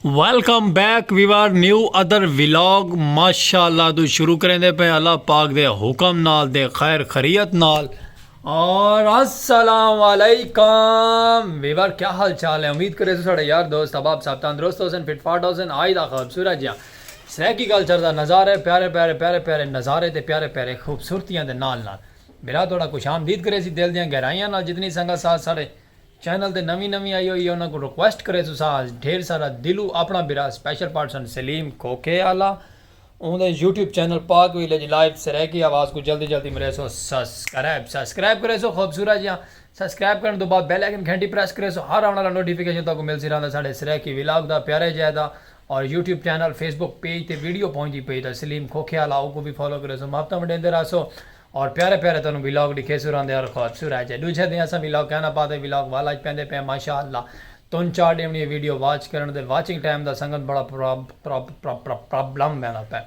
Welcome back viewer new ادر vlog ماشاء اللہ تو شروع کریں دے پہ اللہ پاک دے حکم نال دے خیر خریت نال اور السلام علیکم ویور کیا حال چال ہے امید کرے تو ساڑھے یار دوست احباب صاحب تندرست ہو سن فٹ فاٹ ہو سن آئی دا خوبصورت جیاں سریکی کلچر دا نظارے پیارے پیارے پیارے پیارے نظارے تے پیارے پیارے خوبصورتیاں دے نال نال میرا تھوڑا کچھ آمدید کرے سی دل دیاں گہرائیاں نال جتنی سنگت ساتھ ساڑھے چینل تے نویں نویں آئی ہوئی ہے انہاں کوں ریکویسٹ کرے تساں آس ڈھیر سارا دلوں اپنا بھرا سپیشل پرسن سلیم کھوکھے آلا اوں دے YouTube channel Pak village live Saraiki آواز کوں جلدی جلدی مریسو سسکرائب سسکرائب کریسو خوبصورت جیاں سسکرائب کرن تو بعد بیل آئیکن گھنٹی پریس کریسو ہر آون آلا نوٹیفیکیشن تہاکوں ملسی رہندا ساڈے سرائیکی ولاگ دا پیارے جائے دا اور YouTube channel Facebook page تے ویڈیو پہنچدی پئی تاں سلیم کھوکھے آلا اوکوں وی فالو کریسو محبتاں ونڈیندے راہسو اور پیارے پیارے تانوں ویلاگ ڈکھے سو راندے اور خواب سو رہ جے ڈوجھے دیں اساں ویلاگ کیوں نہ پاتے ویلاگ وال اج پیندے پے ماشاء اللہ تون چار ڈیونی اے ویڈیو واچ کرن دے واچنگ ٹائم دا سنگن بڑا پرابلم ویندا پے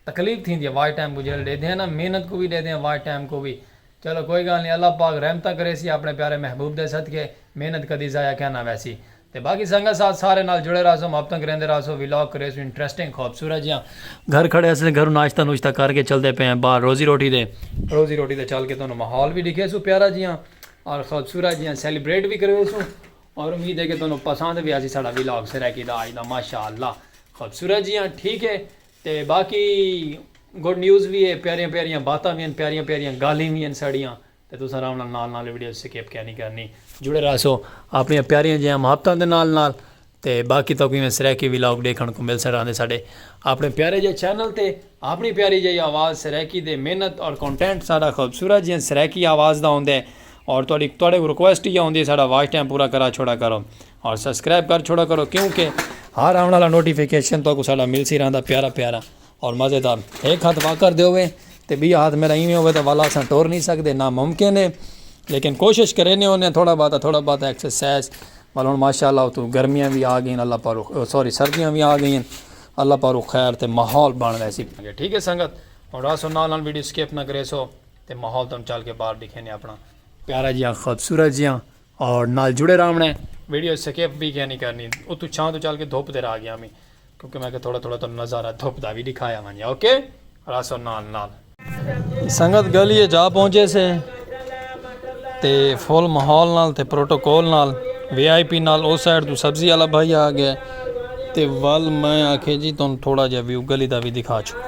تکلیف تھیندی اے واچ ٹائم کوں جیلے ڈیدھے ہیں نا محنت کوں وی ڈیدھے ہیں واچ ٹائم کوں وی چلو کوئی گال نی اللہ پاک رحمتاں کریسی اپنے پیارے محبوب دے صدقے محنت کدی ضائع کیوں نہ ویسی تے باقی سنگت ساتھ سارے نال جڑے رہسوں محبت توں گریندے رہسوں ویلاگ کریسوں انٹریسٹنگ خوبصورت جیاں گھر کھڑے اسیں تے گھروں ناشتہ نوشتہ کر کے چلدے پے ہیں باہر روزی روٹی دے روزی روٹی دے چل کے تانوں ماحول وی ڈکھیسوں پیارا جیاں اور خوبصورت جیاں سیلیبریٹ وی کرویسوں اور امید ہے کہ تانوں پسند وی آسی ساڈا ویلاگ سرائیکی دا اج دا ماشاءاللہ خوبصورت جیاں ٹھیک ہے تے باقی گڈ نیوز وی ہے پیاریاں پیاریاں باتاں وی ہن پیاریاں پیاریاں گالھیں وی ہن ساڈیاں تے تساں آرام نال نال نال ویڈیو سکپ کینی کرنی۔ جڑے رہسو اپنیاں پیاریاں جیہاں محبتاں دے نال نال تے باقی تہاکوں ایویں سرائیکی ولاگ ڈیکھنڑ کوں مل سڑاندے ساڈے اپنے پیارے جیہے چینل تے اپنی پیاری جیہی آواز سرائیکی دے محنت اور کونٹینٹ ساڈا خوبصورت جیہاں سرائیکی آواز دا ہوندے اور تہاڈی تہاڈے کوں ریکویسٹ ایہا ہوندی ساڈا واچ ٹائم پورا کرا چھوڑا کرو اور سبسکرائب کر چھوڑا کرو کیونکہ ہر آونڑ آلا نوٹیفیکیشن تہاکوں ساڈا ملسی رہندا پیارا پیارا۔ اور مزیدار ہک ہتھ واکر دے ہووے تے ٻیا ہتھ میݙا ایویں ہووے تاں والا اساں ٹر نی سڳدے نا ممکن ہے لیکن کوشش کریندے ہوندے ہیں تھوڑا بہت تھوڑا بہت ایکسرسائز ول ہݨ ماشاء اللہ اتوں گرمیاں وی آ ڳئین اللہ پاک رخ سوری سردیاں وی آ ڳئین اللہ پاک رخ خیر تے ماحول بݨ ویسی ٹھیک ہے سنگت ہݨ راسو نال نال ویڈیو سکپ نہ کریسو تے ماحول توں چل کے باہر ݙکھیندے اپݨا پیارا جیاں خوبصورت جیاں اور نال جڑے راونڑ ہے۔ ویڈیو اسکیپ وی کیا نی کرنی اتو چھاں تو چل کے دھوپ دے راہ گیاں میں کیونکہ میں کہ تھوڑا تھوڑا تانوں نظارہ دھوپ دا وی ڈکھایا ونجے اوکے راسو نال نال۔ سنگت گلی اچ آ پہنچے سے تے فل ماحول نال تے پروٹوکول نال وی آئی پی نال او سائیڈ تو سبزی والا بھائی آ گئے تے ول میں آکھے جی تانوں تھوڑا جا ویو گلی دا وی دکھا چھوڑاں۔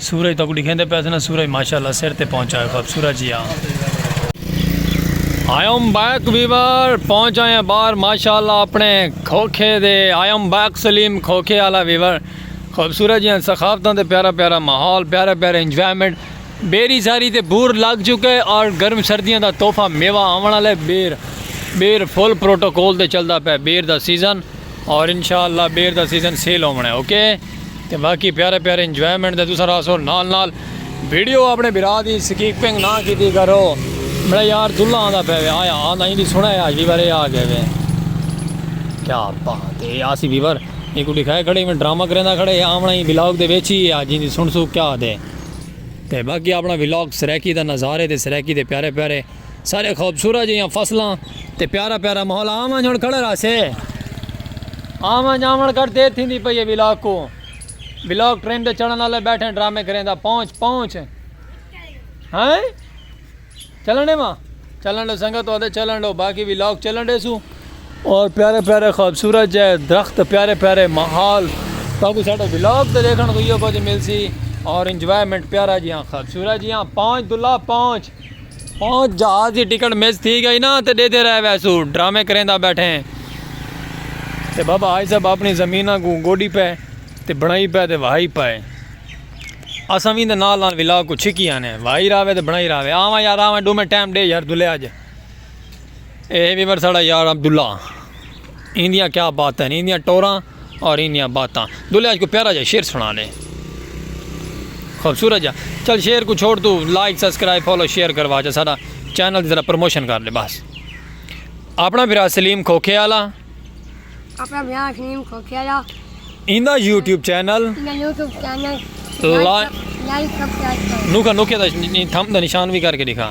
سورج تہاکوں ڈکھیندے پئے سن سورج ماشاء اللہ سر تے پہنچ آئے خوب سورج جی آں۔ آئی ایم بیک ویور پہنچ آئے ہیں باہر ماشاء اللہ اپنے کھوکھے دے آئی ایم بیک سلیم کھوکھے والا ویور خوبصورت جی ہیں سخافتوں دے پیارا پیارا ماحول پیارا پیارا انجوائمنٹ بیری ساری تے بور لگ چکے اور گرم سردیاں دا تحفہ میوہ آون والے بیر بیر فل پروٹوکول تے چلدا پیا بیر دا سیزن اور انشاءاللہ بیر دا سیزن سیل ہووݨ ہے اوکے تے باقی پیارے پیارے انجوائمنٹ دے تساں راہسو نال نال ویڈیو اپنے بھرا دی سکیپنگ نہ کیتی کرو میرا یار دلہ آندا پے وے آیا آندا ایندی سن ہے آج ویور اے آ گئے وے کیا بات ہے آسی ویور ایکو دکھائے کھڑے میں ڈرامہ کریندا کھڑے آمنا ہی ولاگ دے ویچ ہی آج ایندی سن سو کیا دے تے باقی اپنا ولاگ سریکی دا نظارے تے سریکی دے پیارے پیارے سارے خوبصورت جیاں فصلاں تے پیارا پیارا ماحول آون جون کھڑا رہا سے آون جاون کر دے تھی دی پئی ہے ولاگ کو ولاگ ٹرین دے چڑھن والے بیٹھے ڈرامے کریں دا پہنچ پہنچ ہاں چلنے ماں چلن لو سنگت ہوتے چلن لو باقی ولاگ چلن دے سو اور پیارے پیارے خوبصورت جائے درخت پیارے پیارے ماحول تاکہ ساڑھا ولاگ تے دیکھن کو یہ کچھ مل سی اور انجوائمنٹ پیارا جیاں خوبصورت جیاں پہنچ دلہ پہنچ ہوں جہاز دی ٹکٹ مس تھی گئی نا تے ڈیدھے رہ ویسو ڈرامے کریندا بیٹھیں تے بابا حاج صاحب اپنی زمیناں کوں گوڈی پئے تے بنڑائی پئے تے وہائی پئے اساں وی دے نال نال ولاگ کوں چھکی آنے وہائی راوے تے بنڑائی راوے آواں یار آواں ڈومیں ٹائم ڈے یار دلے اج اے ویور ساڑا یار عبداللہ این دیاں کیا باتیں ہیں این دیاں ٹوراں اور این دیاں باتاں دلے آج کو پیارا جا شیر سنا لے خوبصورت جا چل شیر کو چھوڑ تو لائک سبسکرائب فالو شیئر کروا جا سارا چینل ذرا پروموشن کر لے بس اپنا بھرا سلیم کھوکھے والا اپنا بھرا سلیم کھوکھے والا ایندا یوٹیوب چینل ایندا یوٹیوب چینل لائک سبسکرائب نوکا نوکے دا تھم دا نشان بھی کر کے دکھا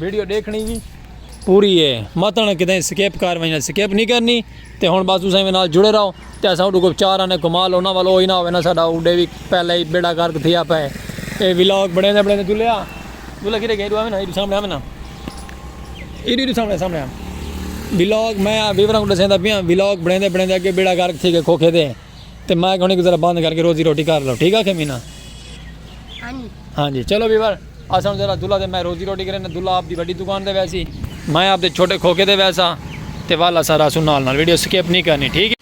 ویڈیو ڈیکھنی وی پوری ہے متن کدیں سکیپ کر ونجنا سکیپ نہیں کرنی تے ہن بس تساں میں نال جڑے رہو تے اساں اڈو کو چار آنے کمال انہاں والو ہوئی نہ ہوئے نہ ساڈا اڈے وی پہلے ہی بیڑا گرک تھیا پے اے ولاگ بنے دے بنے دے دلیا دلیا کی رہ گیا ایڈو آوے نا ایڈو سامنے آوے نا ایڈو ایڈو سامنے سامنے ولاگ میں ویوراں کو دسیندا پیاں ولاگ بنے دے بنے دے اگے بیڑا گرک تھی گئے کھوکھے دے تے مائک ہونی کو ذرا بند کر کے روزی روٹی کر لو ٹھیک آکھے مینا ہاں جی چلو ویور اساں ذرا دلہا دے میں روزی روٹی کرے نا دلہا آپ دی بڑی دکان دے ویسی میں آپ دے چھوٹے کھوکے دے ویسا تے والا سا راسو نال نال ویڈیو سکیپ نہیں کرنی ٹھیک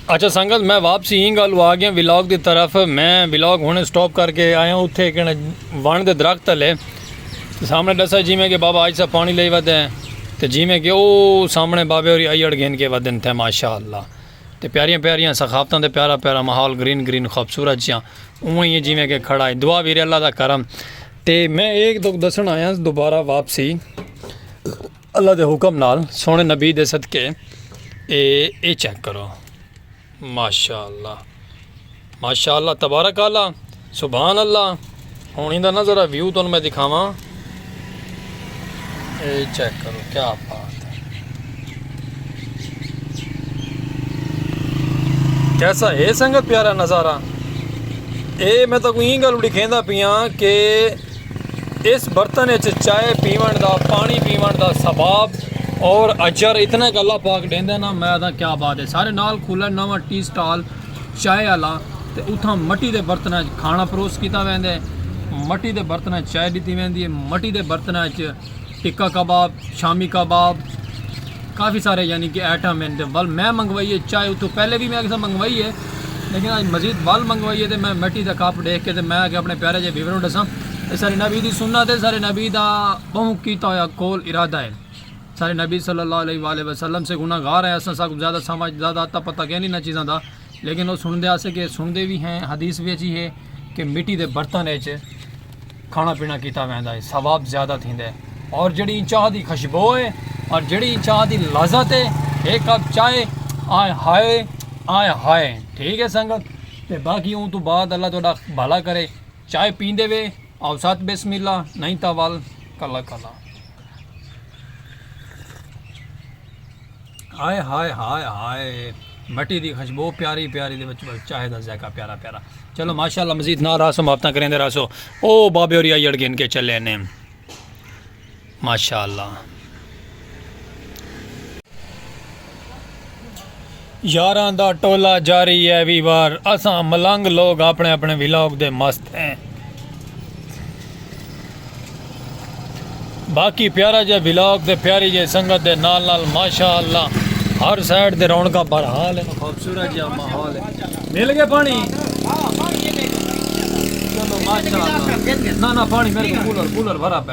اچھا سنگت میں واپسی ہی گالو آگیا ویلاگ دی طرف میں ویلاگ ہونے سٹاپ کر کے آیا ہوں اتھے کہنے وان دے درخت لے سامنے ڈسا جی میں کہ بابا آج سا پانی لے ودے ہیں تے جی میں کہ او سامنے بابے اور آئی اڑ گھن کے ودن تھے ماشاءاللہ تے پیاریاں پیاریاں سخاوتاں تے پیارا پیارا ماحول گرین گرین خوبصورت جیاں اونویں ہی جیویں کہ کھڑا ہی دعا ویرے اللہ دا کرم تے میں ایک تک دسن آیاں دوبارہ واپسی اللہ دے حکم نال سونے نبی دے صدقے اے اے چیک کرو ماشاءاللہ ماشاء اللہ تبارک اعلی سبحان اللہ ہوں ایندا نہ ذرا ویو تن میں دکھاواں اے چیک کرو کیا بات ہے کیسا ہے سنگت پیارا نظارہ اے میں تاکو این گل لکھیندا پیاں کہ اس برتن وچ چائے پیون دا پانی پیون دا ثواب اور اجر اتنا کہ اللہ پاک ڈیندا نا میں دا کیا بات ہے سارے نال کھلا نواں ٹی سٹال چائے آلا تے اتھاں مٹی دے برتناں اچ کھانا پروس کیتا ویندے ہے مٹی دے برتناں اچ چائے ڈتی ویندی ہے مٹی دے برتناں اچ ٹکا کباب شامی کباب کافی سارے یعنی کہ ایٹم ہیں ول میں منگوائی ہے چائے اتھوں پہلے بھی میں کسا منگوائی ہے لیکن آج مزید ول منگوائی ہے تے میں مٹی دا کپ دیکھ کے تے میں کہ اپنے پیارے جے ویوروں ڈساں سارے نبی دی سنت ہے سارے نبی دا بہوں کیتا ہویا قول ارادہ ہے سارے نبی صلی اللہ علیہ وآلہ وسلم سے گناہ گار ہیں اساں ساکوں زیادہ سمجھ زیادہ اتا پتا کینی انہاں چیزاں دا لیکن او سنڑدے آسے کہ سنڑدے وی ہیں حدیث وچ ہی ہے کہ مٹی دے برتن وچ کھانا پینا کیتا ویندا ہے ثواب زیادہ تھیندا ہے اور جڑی چاہ دی خوشبو ہے اور جڑی چاہ دی لذت ہے ایک کپ چائے آئے ہائے آئے ہائے ٹھیک ہے سنگت تے باقی اون تو بعد اللہ تہاڈا بھلا کرے چائے پیندے وے اوسط بسم اللہ نئیں تاں ول کلا کلا۔ ہائے ہائے ہائے ہائے مٹی دی خشبو پیاری پیاری دے وچ چاہے دا ذائقہ پیارا پیارا چلو ماشاءاللہ مزید نہ راسو مافتاں کریندے راسو او بابے اور یا یڑ گن کے چلے نے ماشاءاللہ یاراں دا ٹولہ جاری اے وی وار اساں ملنگ لوگ اپنے اپنے ولاگ دے مست ہیں باقی پیارا جے ولاگ دے پیاری جے سنگت دے نال نال ماشاءاللہ ہر سائیڈ دے رونکا پر حال ہے خوبصورت جا ماحول ہے مل گئے پانی ہاں پانی ماشاءاللہ نا نا پانی میرے کولر کولر بھرا پہ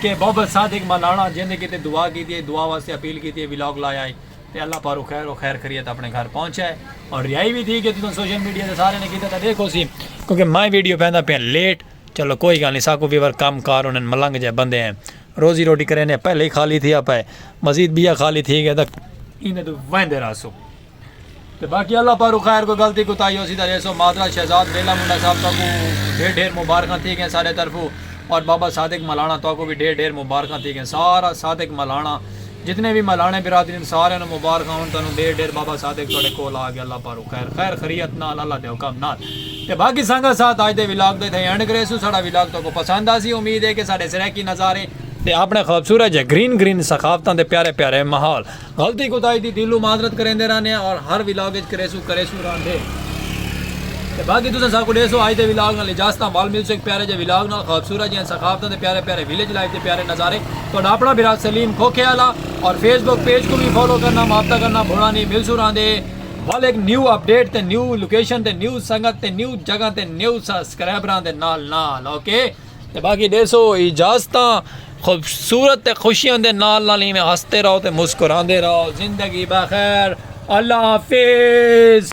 کہ بابل صادق ملاڑا جیندے کیتے دعا کیتی اے دعا واسطے اپیل کیتی اے ولاگ لایا اے تے اللہ پاروں خیر و خیر خریت اپنے گھر پہنچا اے اور ریائی بھی تھی کہ تساں سوشل میڈیا تے سارے نے کیتا تھا دیکھو سی کیونکہ میں ویڈیو پیندا پیا لیٹ چلو کوئی گل نہیں ساکو ویور کم کار انہاں ملنگ جے بندے ہیں روزی روٹی کرینے پہلے ہی خالی تھیا پے مزید بیا خالی تھی گئے تک ایندے تو ویندے راسو تے باقی اللہ پارو خیر کوئی غلطی کوتاہی ہوسی تے ریسو معذرت شہزاد بیلا منڈا صاحب تہاکوں ڈھیر ڈھیر مبارخاں تھی گئیں سارے طرفو اور بابا صادق ملانا تہاکوں وی ڈھیر ڈھیر مبارخاں تھی گئیں سارا صادق ملانا جتنے وی ملانے برادری سارے نو مبارخاں ہن تانوں ڈھیر ڈھیر بابا صادق تہاڈے کول آ گیا اللہ پارو خیر خیر خریت نال اللہ دے حکم نال تے باقی سانگا ساتھ اج دے ولاگ دے تھے اینڈ کریسو ساڈا ولاگ تہاکوں پسند آسی امید ہے کہ ساڈے سرائیکی نظارے تے اپنے خوبصورت جے گرین گرین ثقافتاں دے پیارے پیارے ماحول غلطی کوتاہی دی دلوں معذرت کریندے رہنے آں اور ہر ولاگ اچ کریسوں کریسوں رہندے تے باقی تساں ساکوں ڈیسو اج دے ولاگ نال اجازتاں ول ملسوں ہک پیارے جے ولاگ نال خوبصورت جیاں ثقافتاں تے پیارے پیارے ویلیج لائف دے پیارے نظارے تہاڈا اپنا بھرا سلیم کھوکھے آلا اور فیس بک پیج کوں وی فالو کرنا مابطہ کرنا بھولاں نی ملسوں رہندے ول ہک نیو اپ ڈیٹ تے نیو لوکیشن تے نیو سنگت تے نیو جگہ تے نیو سسکرائبراں دے نال نال اوکے۔ تے باقی ڈیسو اجازتاں خوبصورت تے خوشیاں دے نال نال ایویں ہستے رہو تے مسکراندے رہو زندگی بخیر اللہ حافظ